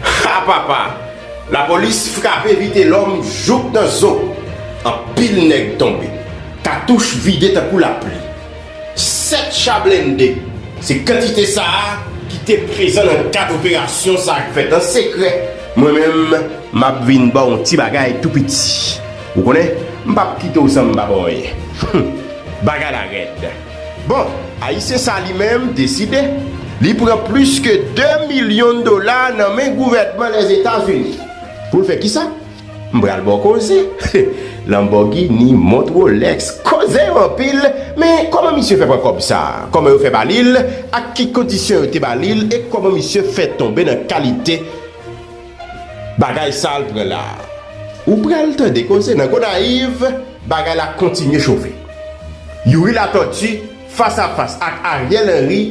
Ha papa! Lapolis frape Vitelòm jouk nan zo! Anpil nèg tonbe. Katouch vide tankou lapli. 7 cha blende, se kantite sa a ki te prezan nan kad operasyon sa a k fèt an sekrè. Mwen menm, m ap vin ba w yon ti bagay tou piti. Ou konnen, m p ap kite w san m pa ba w anyen. Humm! Bagay la rèd. Bon, Ayisyen sa li menm deside, li pran plis ke 2 milyon dola nan men gouvènman Lèzetazini. Pou l fè kisa? M pral ba w koze. Lanbògini, mont Rolèks, koze yo anpil, men kòman misye fè pran kòb sa? Kòman yo fè ba li l? Ak ki kondisyon yo te ba li l? E kòman misye fè tonbe nan kalite. Bagay sal pran la. Ou pral tande koze nan Gonayiv, bagay la kontinye chofe. Youri Latòti fas a fas ak Ariel Henry,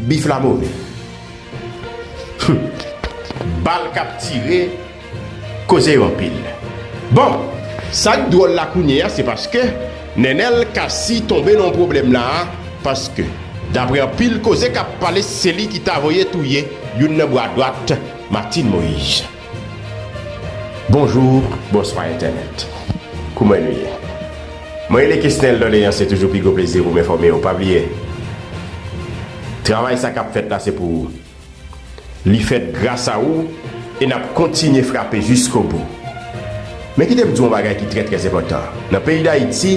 bif la move. Humm bal kap tire koze yo anpil. Bon, sak dwòl la kounyeya se paske Nenel Cassy tonbe nan yon pwoblèm la a paske daprè anpil koze kap pale se li ki ta voye touye youn nan bwa dwat Martine Moise Bonjour bonswa entènèt kouman nou ye mwen rele kesnel doleans se toujou pi gwo plezi pou m enfòme w pa bliye travay sa kap fèt la se pou ou li fèt gras a ou e nap kontinye frape jiskobou. Men kite m di w yon bagay ki trè trè enpòtan, nan peyi Dayiti,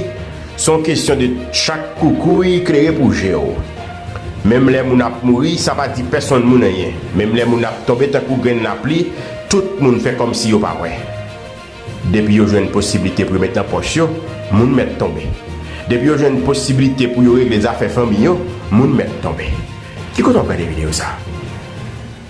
se yon kesyon de chak koukouy klere pou je w. Menm lè moun ap mouri, sa pa di pèsonn moun anyen. Menm lè moun ap tonbe tankou grenn lapli, tout moun fè kòmsi yo pa wè. Depi yo jwenn posiblite pou yo met nan pòch yo, moun mèt tonbe. Depi yo jwenn posiblite pou yo regle zafè fanmi yo, moun mèt tonbe. Ki kote w ap gade videyo sa a?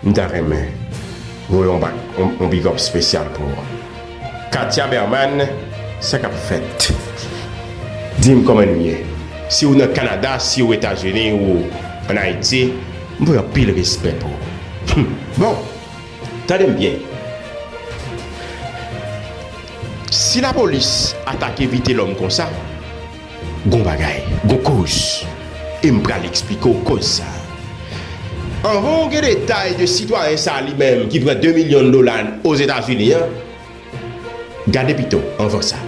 M ta renmen voye yon bak yon big up spesyal pou Katia Berman sa kap fèt dim kòman nou ye si ou nan Canada si ou etazini ou an Haïti m voye anpil respè pou ou bon tande m byen si la polis atake vitelòm konsa. Gon bagay, gon koz, e m pral eksplike w koz sa. Anvan w gen detay de sitwayen sa li menm ki pran 2 milyon dola Ozetazini an, gade pito, anvan sa,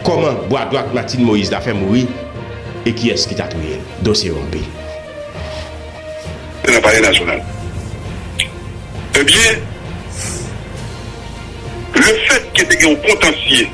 kòman bwa dwat Martine Moïse la fè mouri e kiyès ki ta touye l. Dosye yo anpil. Nan Palè Nasyonal. Ebyen, lefètke te gen yon kontansye.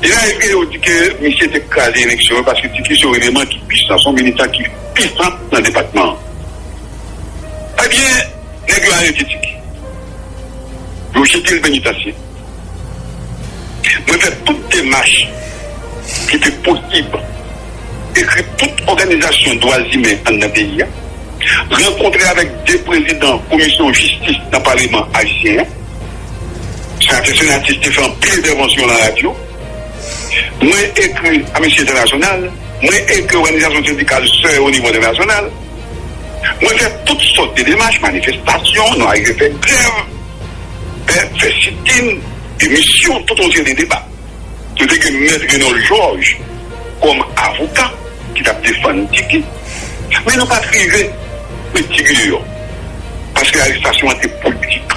De la eske yo di ke misye te kraze eleksyon yo paske Ti Kris se yon eleman ki pwisan, se yon militan ki pisan nan depatman an. Ebyen, nèg yo arete Ti Kris, yo jete l penitansye. Mwen fè tout demach ki te posib, ekri tout òganizasyon dwazimen anndan peyi a, rankontre avèk 2 prezidan komisyon jistis nan paleman ayisyen an. Sa te fè atis te fè anpil entèvansyon nan radyo. Mwen ekri Amnisti Entènasyonal, mwen ekri òganizasyon sendikal sè yo onivo entènasyonal. Mwen fè tout sòt de demach, manifestasyon, nou arive fè grèv, fè sitin, demisyon, tout yon seri de deba. Nou te gen Mèt Renold Georges kòm avoka ki t ap defann Tiki. Men nou pa t rive met Tiki deyò paske arestasyon an te politik.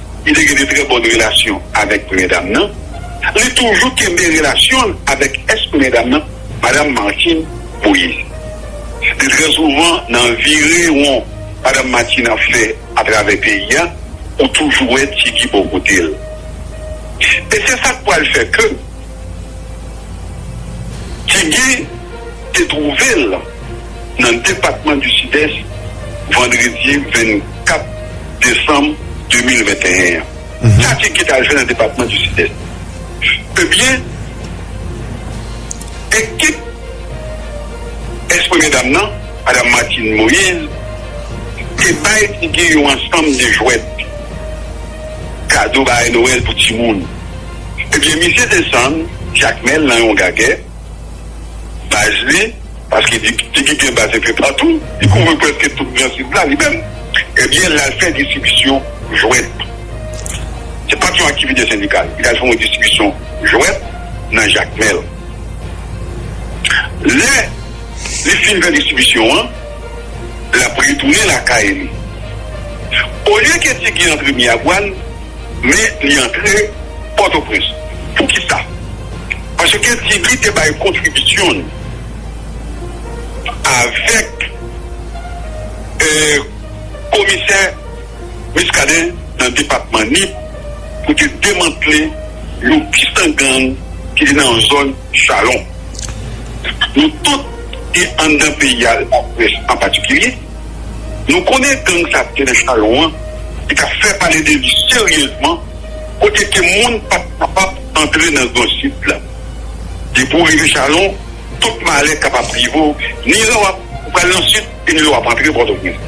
ki te gen de trè bòn relasyon avèk premye dam nan, li toujou kenbe relasyon l avèk èks premye dam nan, Madam Martine Moïse. De trè souvan nan vire won Madam Martine ap fè atravè peyi a, ou toujou wè Ti Guy bò kote l. E se sa k pral fè ke Ti Guy te twouve l. nan depatman di Sidès vandredi 24 desanm 2021 an. Sa ki gen ta jwe nan depatman di Sidès? Ebyen, ekip ex premye dam nan, Madam Martine Moïse, te bay figi yon ansanm de jwèt, kado bagay Nowèl pou timoun. Ebyen, misye desann Jakmèl nan yon gagè. baz li, paske depite ki gen baz enpe patou, li kouvri prèske tout gran sid la li menm, ebyen l al fè distribisyon jwèt. Se pa t yon aktivite sendikal. Li t al fè yon distribisyon jwèt nan Jakmèl. Lè li fin fè distribisyon an, l ap retounen lakay li. Olye ke Ti Guy antre Miyagwàn. Men li antre Pòtoprens. Poukisa? Paske Ti Guy te bay kontribisyon l avèk komisè Muscadin nan depatman Nip pou te demantle yon pistan gang ki te nan zòn Chalon. Nou tout ki anndan peyi a, laprès an patikilye, Nou konnen gang sa te nan chalon an ki tap fè pale de li seryezman kote ke moun pap kapab antre nan gran sid la. Depi w rive chalon tout malè kapab rive w ni lè wap pral nan sid e ni lè wap antre pòtoprens.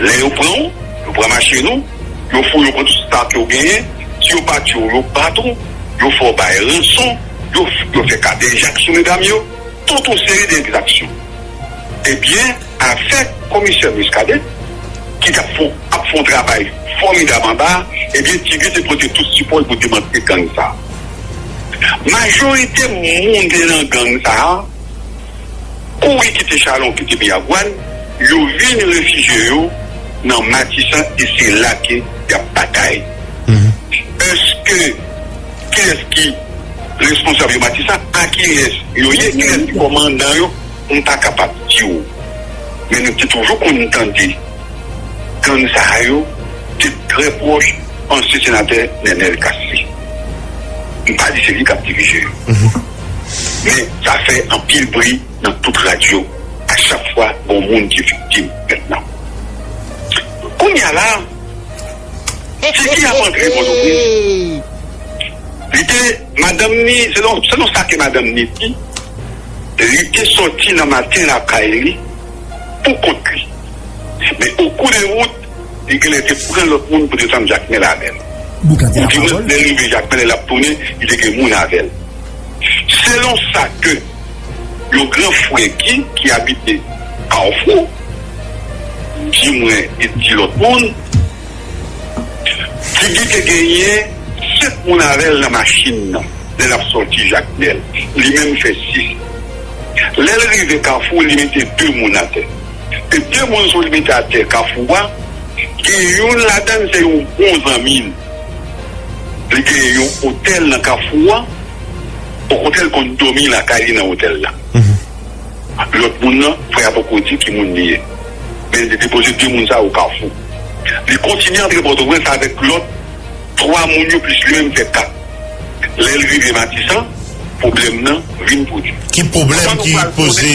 Lè yo pran w yo pran machin ou, yo fouye w pran tout sa ke w genyen, si yo pa tiye w yo bat ou, yo fè w bay ranson, yo fè kadejak sou medam yo, tout yon seri de egzaksyon. Ebyen. Afè komisè Muscadin ki tap fon ap fon travay fòmidab anba a ebyen ti guy te pote tout sipòl pou demantele gang sa majorite moun te nan gang sa kouri kite chalon kite miragwàn yo vin refije yo nan matisan e se la ke yap batay eske kilès ki responsab yo matisan a kilès yo ye kilès ki kòmandan yo. m pa kapab di w, men nou te toujou konn tande gang sa a yo te trè pwòch ansyen senatè Nenel Cassy. M pa di se li k ap dirije yo, men sa fè anpil bri nan tout radyo a chak fwa gon moun ki viktim. Mètnan, kounye a la a, Tiki ap antre Pòtoprens, li te. Madanm ni, selon sa ke madanm ni di, li te sòti nan maten lakay li pou kont li. Men o kou de wout, li genlè te pran lòt moun pou desann Jakmèl avè l. Ou di mwen, lè l rive Jakmèl e l ap tounen, li te gen moun avè l. Selon sa ke yon gran frè Gi ki abite Kawfou di mwen e di lòt moun, Didi te genyen 7 moun avè l nan machin nan lè l ap sòti Jakmèl. Li menm fè 6. Lè l rive Kafou, li mete 2 moun atè. E 2 moun sa yo li mete atè Kafou a, gen youn ladan l se yon bon zanmi l. Li genyen yon otèl nan Kafou a, okontrè l konn dòmi lakay li nan otèl la. Lòt moun nan, frè a poko di ki moun li ye. Men li te depoze 2 moun sa yo Kafou. Li kontinye antre Pòtoprens avèk lòt 3 moun yo plis li menm fè 4. Lè l rive Matisan, pwoblèm nan vin pwodui. Ki pwoblèm ki poze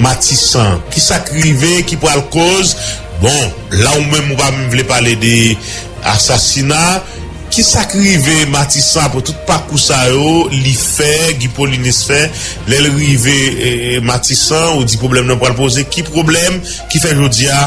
Matisan? Ki sa k rive ki pral koz? Bon, la ou menm ou pa menm vle pale de asasina. Ki sa k rive Matisan apre tout pakou sa yo li fè, Guy Paullinus fè? Lè l rive Matisan, ou di pwoblèm nan pral poze. Ki pwoblèm ki fè jodi a?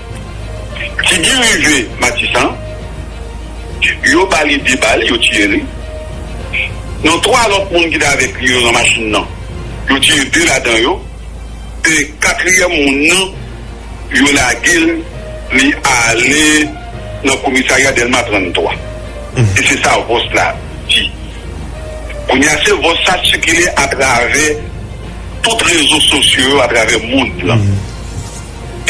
Ti Guy rive Matisan, yo ba li 2 bal, yo tiye li. Nan 3 lòt moun ki te avèk li yo nan machin nan, yo tiye 2 ladan yo e katriyèm moun nan, yo lage l, li ale nan komisarya Dèlma 33. E se sa vòs la di. Kounye a, se vòs sa sikile atravè tout rezo sosyo yo, atravè mond lan.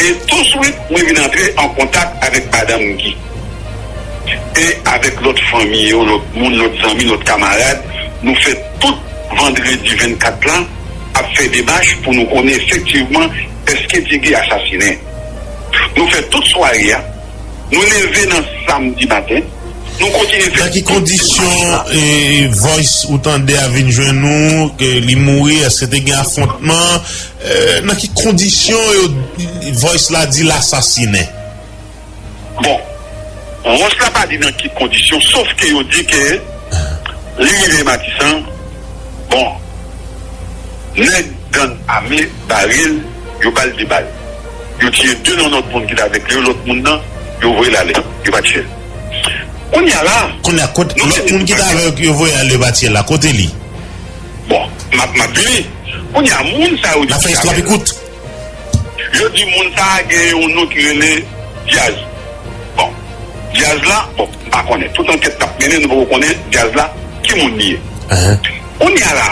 E touswit mwen vin antre an kontak avèk Madanm Gi e avèk lòt fanmi yo, lòt moun, lòt zanmi, lòt kamarad. Nou fè tout vandredi 24 la ap fè demach pou nou konnen efektivman èske Ti Gi asasinen. Nou fè tout sware a, nou leve nan samdi maten, nou kontinye fè tout. Nan ki kondisyon voice ou tande a vin jwenn ou, li mouri, èske te gen afontman? Nan ki kondisyon yo voice la di l asasinen? Bon voice la pa di nan ki kondisyon sof ke yo di ke li rive matisan bon nèg gang ame bare l yo ba l 2 bal yo tiye 2 nan lòt moun ki t avèk li yo lòt moun nan yo voye l ale yo pa tiye l kounya la. Kounya kot lòt moun ki t avèk yo voye al yo pa tiye l la kote li? Bon map map li kounye a moun sa yo di ki sa vre la. Yo di moun sa gen yon non ki rele Diaz. Bon Diaz la bon m pa konnen tout ankèt kap mennen nou poko konnen Diaz la ki moun li ye. Kounye a la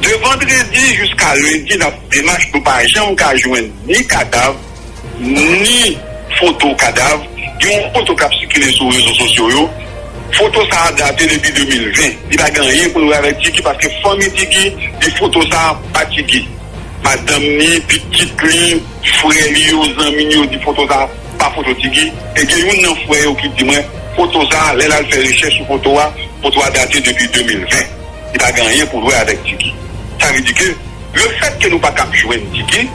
de vandredi jiska lendi nap demach nou pa janm ka jwenn ni kadav. ni foto kadav gen yon foto kap sikile sou rezo sosyo yo foto sa a date depi 2020 li pa gen anyen pou l wè avèk Tiki paske fanmi Tiki di foto sa a pa Tiki madanm ni pitit li frè li yo zanmi li yo di foto sa a pa foto Tiki e gen youn nan frè yo ki di mwen foto sa a lè l al fè rechèch sou foto a foto a date depi 2020 li pa gen anyen pou l wè avèk Tiki sa vle di ke. Le fèt ke nou pa kab jwenn tike,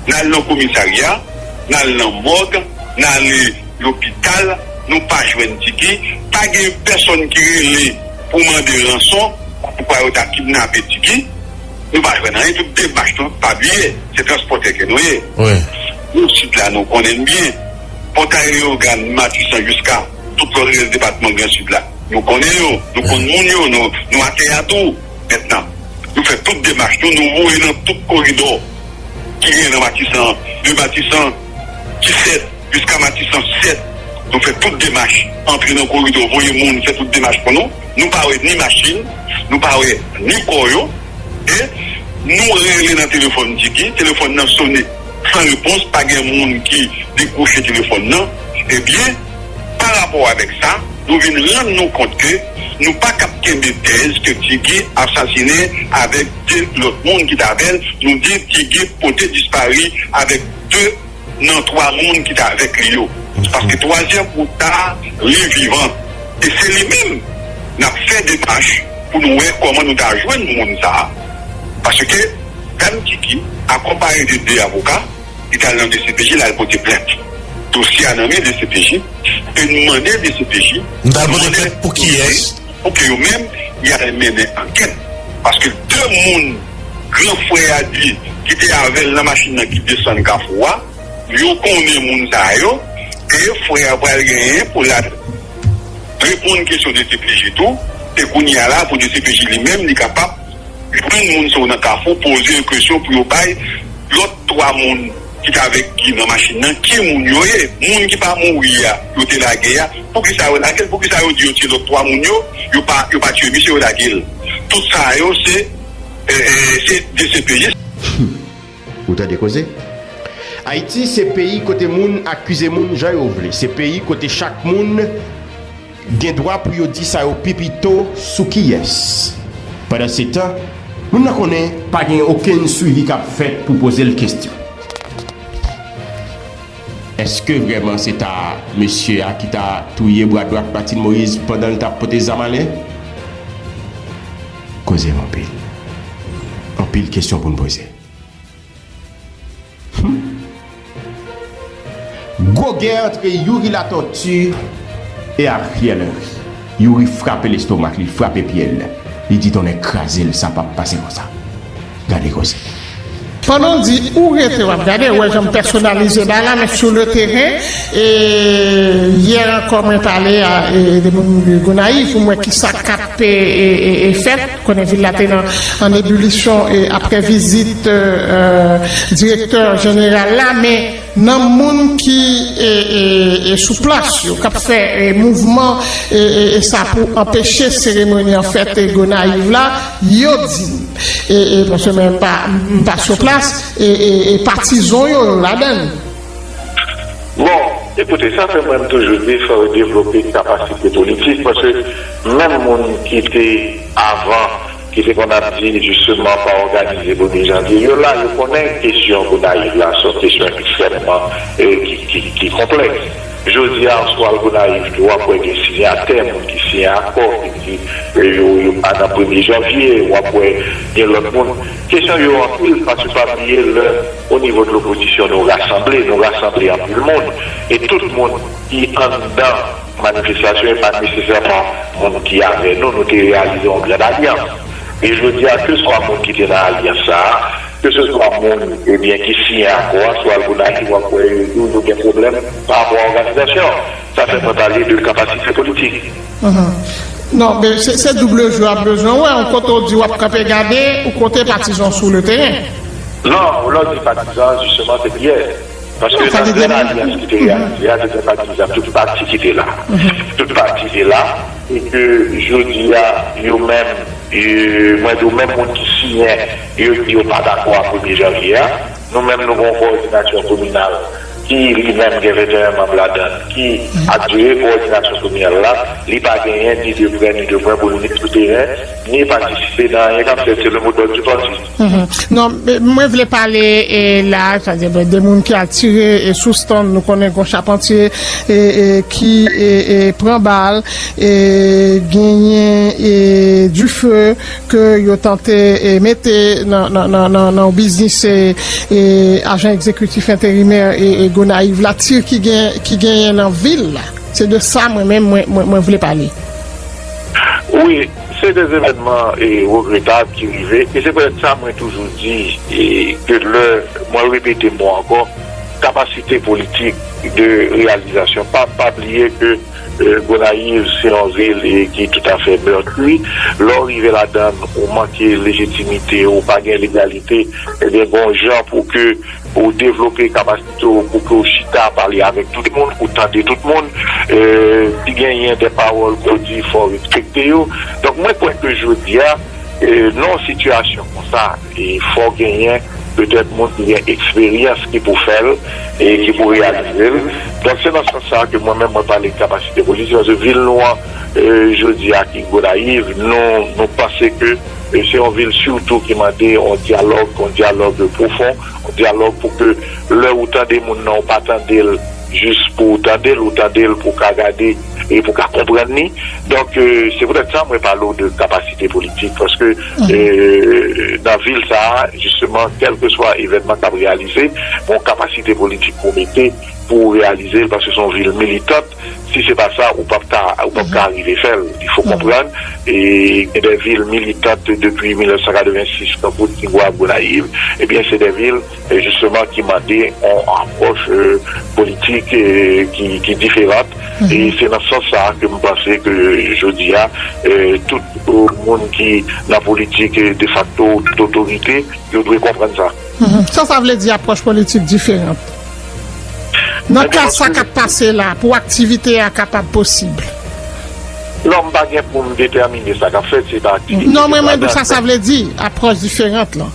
n al nan komisarya, n al nan mòg, n ale lopital, nou pa jwenn tike, pa gen pèsonn ki rele pou mande ranson, kòmkwa yo ta kidnape tike, nou pa jwenn anyen, tout demach nou, pa bliye, se transpòtè ke nou ye. Nan Sid la nou konnen byen, Pòtay Leyogàn, Matisan jiska tout lòt rès depatman Gran Sid la, nou konnen yo, nou konn moun yo, nou atè a tou. mentnan. Nou fè tout demach nou, nou voye nan tout koridò ki genyen nan Matisan an, de Matisan 17 jiska Matisan 7, nou fè tout demach, antre nan koridò, voye moun, fè tout demach pou nou, nou pa wè ni machin, nou pa wè ni kò yo, e nou rele nan telefòn Didi, telefòn nan sone san repons, pa gen moun ki dekwoche telefòn nan, ebyen. Pa rapò avèk sa, nou vin rann nou kont ke nou pa k ap kenbe tèz ke Ti Guy asasinen avèk 2 lòt moun ki t avè l, nou di Ti Guy pote dispari avèk 2 nan 3 moun ki t avèk li yo, paske twazyèm moun sa a li vivan e se li menm n ap fè demach pou nou wè kòman nou ta jwenn moun sa a, paske Dam Ti Guy akonpaye de 2 avoka. Li t al nan dcpj, l al pote plent. Dosye a nan men dcpj e n mande dcpj pou ke yo menm y al mennen ankèt paske 2 moun gran frè a di ki te avè l nan machin nan ki desann Kafou a, yo konnen moun sa yo e frè a pral genyen pou l al reponn kesyon dcpj tou e kounye a la pou dcpj li menm li kapab. Jwenn moun sa yo nan kafou, poze yo kesyon pou yo bay lòt 3 moun ki t avèk Guy nan machin nan ki moun yo ye. Moun ki pa mouri a yo te lage a, poukisa yo lage l? Poukisa yo di yo tiye lòt 3 moun yo, yo pa yo pa tiye misye yo lage l? Tout sa yo se dcpj. Humm. Ou tande koze? Ayiti se peyi kote moun akize moun jan yo vle, se peyi kote chak moun gen dwa pou yo di sa yo pi pito sou kiyès. Pandansetan, moun nan konnen pa gen okenn swivi k ap fèt pou poze l kestyon. Eske vrèman se ta mesye a ki ta touye bra dwat Martine Moïse pandan l t ap pote zam ale? Koze m anpil. Anpil kesyon pou n poze. Humm. Gwo gè antre Youri Latortue e Ariel Henry. Youri frape lestomak li, frape pye l. Li di tonnè kraze l sa pap pase konsa. Gade koze. Pandan w di ou rete wap gade, ou wè jan m pèsonalize bagay la men sou le teren e yè ankò mwen pale a de moun Gonayiv pou m wè kisa kap fèt, konnen vil la te an ebilisyon aprè vizit direktè jeneral la men. nan moun ki sou plas yo kap fè mouvman sa pou anpeche seremoni an fèt Gonayiv la, yo di m, paske mwen pa sou plas, patizon yo ladann. Bon, ekoute, sa fè mwen m toujou di fò yo devlope kapasite politik, paske menm moun ki te avan. Ki te konn ap di jisteman pa òganize pou 2 janvye. Yo la, yo konnen kesyon Gonayiv la se yon kesyon ekstrèmman ki konplèks. Jodi a, si w al Gonayiv tou, w ap wè gen siyatè, moun ki siyen akò, ki di yo pa nan premye janvye. W ap wè gen lòt moun. Kesyon yo anpil paske pa bliye lè onivo dlopozisyon nou rasanble, nou rasanble anpil moun e tout moun ki anndan. Manifestasyon e pa nesesèman moun ki avè nou, nou te reyalize yon grand alyans. E jodi a, keswa moun ki te nan alyans sa a, keseswa moun, ebyen, ki siyen akò a, sou Algonac, w ap wè yo toujou gen pwoblèm pa rapò a òganizasyon. Sa fè mwen pale de kapasite politik. Non, men se double jeu a bezwen wè, yon kote w di w ap kanpe gade, yon kote patizan w sou le teren. Non, lè w di patizan, jisteman, se kiyès? Paske nan Grenn Alyans ki te reyalize a, se te patizan tout pati ki te la. Tout pati te la e ke jodi a, yo menm, mwen di w menm moun ki siyen, yo di yo pa dakò a premye janvye a. Nou menm nou gen yon kowòdinasyon kominal ki li menm gen 21 manm ladan l, ki ap jere kowòdinasyon kominal la. Li pa genyen ni de prè ni de lwen pou l vin sou teren, ni patisipe nan anyen k ap fèt. Se le mot dòd di pati. Non mwen vle pale la sètadi de moun ki al tire sou stand nou konnen gon chapantye ki pran bal e genyen dife ke yo tante mete nan yon biznis ajan egzekitif enterimè Gonayiv la tire ki genyen nan vil la se de sa mwen menm mwen vle pale. Se de evènman regretab ki rive e se pètèt sa mwen toujou di ke lè, mwen repete mo ankò, kapasite politik de reyalizasyon pa pa bliye ke Gonayiv se yon vil ki toutafè meurtri, lè w rive ladan l ou manke lejitimite, ou pa gen legalite, ebyen gon jan pou ke ou devlope kapasite. So pou ke w chita pale avèk tout moun, pou w tande tout moun. Si genyen de pawòl ke w di fò w respekte yo. Donk mwen kwè ke jodi a nan yon sitiyasyon konsa fò genyen petèt moun ki gen eksperyans ki pou fè l e ki pou reyalize l. Donk se nan sans sa ke mwen menm mwen pale de kapasite politik paske vil nou an jodi a ki Gonayiv nou panse ke se yon vil sitou ki mande yon dyalòg, yon dyalòg pwofon. Dyalòg pou ke lè ou tande moun nan ou pa tande l jis pou w tande l, ou tande l pou w ka gade e pou w ka konprann li. Donk se poutèt sa mwen pale w de kapasite politik paske nan vil sa a jisteman kèlkeswa evènman k ap reyalize gen yon kapasite politik pou w mete pou w reyalize l paske se yon vil militant. si se pa sa ou pap ka ou pap ka arive fèl il fò konprann e gen de vil militant depi 1986 tankou tigwav gonayiv ebyen se de vil jisteman ki mande yon apwòch politik ki diferant e se nan sans sa ke m panse ke jodi a tout moun ki nan politik defakto tout otorite yo dwe konprann sa. Sa sa vle di apwòch politik diferant? Nan ka sa k ap pase la, pou aktivite a kapab posib. Non, m pa gen pou m detèmine sa k ap fèt si pa aktivite ke sa. Non, mwen mande w sa sa vle di, apwòch diferant lan.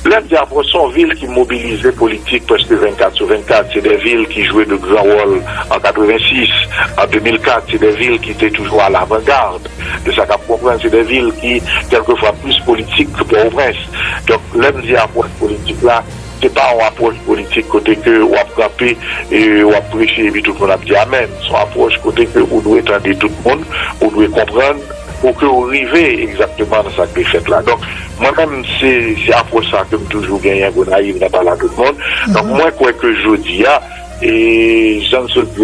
Lè m di apwòch, se yon vil ki mobilize politik prèske 24 sou 24. Se de vil ki jwe de gran wòl an 86, an 2004. Se de vil ki te toujou a lavangard de sa k ap konprann. Se de vil ki kèlkefwa plis politik ke Pòtoprens. Donk, lè m di apwòch politik la. Se pa yon apwòch politik kote ke w ap kanpe e w ap preche epi tout moun ap di amèn. Se yon apwòch kote ke ou dwe tande tout moun, ou dwe konprann pou ke w rive egzakteman nan sa k dwe fèt la. Donk, mwen menm, se apwòch sa a ke m toujou genyen Gonayiv nan pale a tout moun. Donk, mwen kwè ke jodi a, e jan m sot di a,